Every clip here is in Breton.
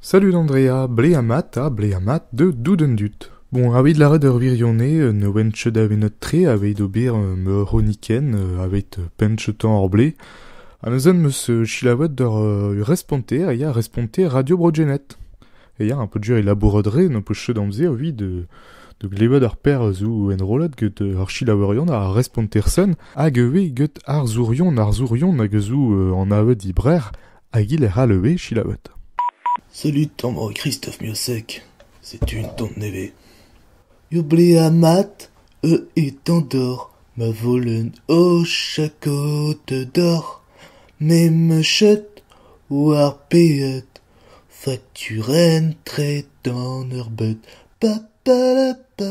Salud Andrea, blez mat ha blez mat deut dout an dud. Bon, aveit lâret ur wirionez, un wech davenet-tre aveit ober ur c'hronikenn aveit penn-tañ hor blez. Ha neuzen 'm eus selaouet ur responter a ya responter Radio Bro-Gened. E ya, un peu dur e labourat re, n'am peus ket amzer evit da glevet ar per zo enrollet get ar selaourion, ar responter-sen, hag ivez get arzourion, arzourion hag zo an avet e Brer, Hag-hi lec'h all ivez, selaouet. Salut tamañ Kristof Miosek, setu un tamm nevez. Yoblea mat, eu etan doc'h ma volenn o chakod doc'h m'em chet war peet fakturenn-tre d'an eur bet pa pa la pa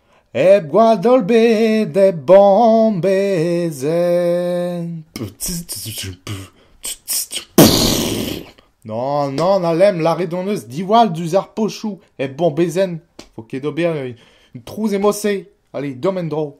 Hep gwad ebet, hep bomm Non, non, Alem, lârit hon eus diwall diouzh ar pochoù hep bombezenn. Vo ket d'ober un trouz e Moselle. Allez, deomp en-dro.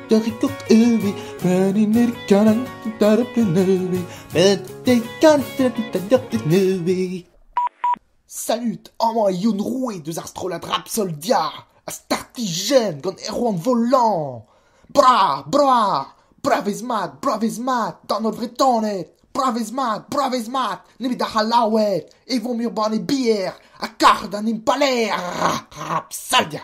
Torikot uvi, peninir kanan, taraplen uvi, bete kantet tadiortet uvi. Salut, amañ eo Youn Roue deus ar strollad rap Soldia, ha startijenn gant Erwan Volant. Bra, bra, bravez-mat, bravez-mat, d'an holl Vretoned. Bravez-mat, bravez-mat, nemet ar C'hallaoued, e vo mir banne bier, ha kar d'an impalaer rap Soldia.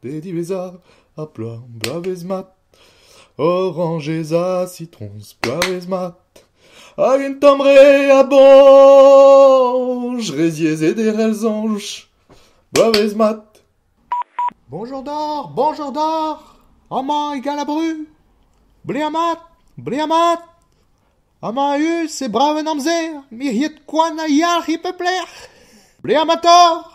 pe diwezhañ ha bloaz bloavezh mat orañjez ha sitroñs bloavezh mat hag un tamm re a boñj re ziaezet e c'hell soñj bloavezh mat Bonjour doc'h bonjour doc'h amañ e Galabru bleaz mat bleaz mat amañ a-us e brav en amzer miriet koan a yalc'h e pep lec'h bleaz matoc'h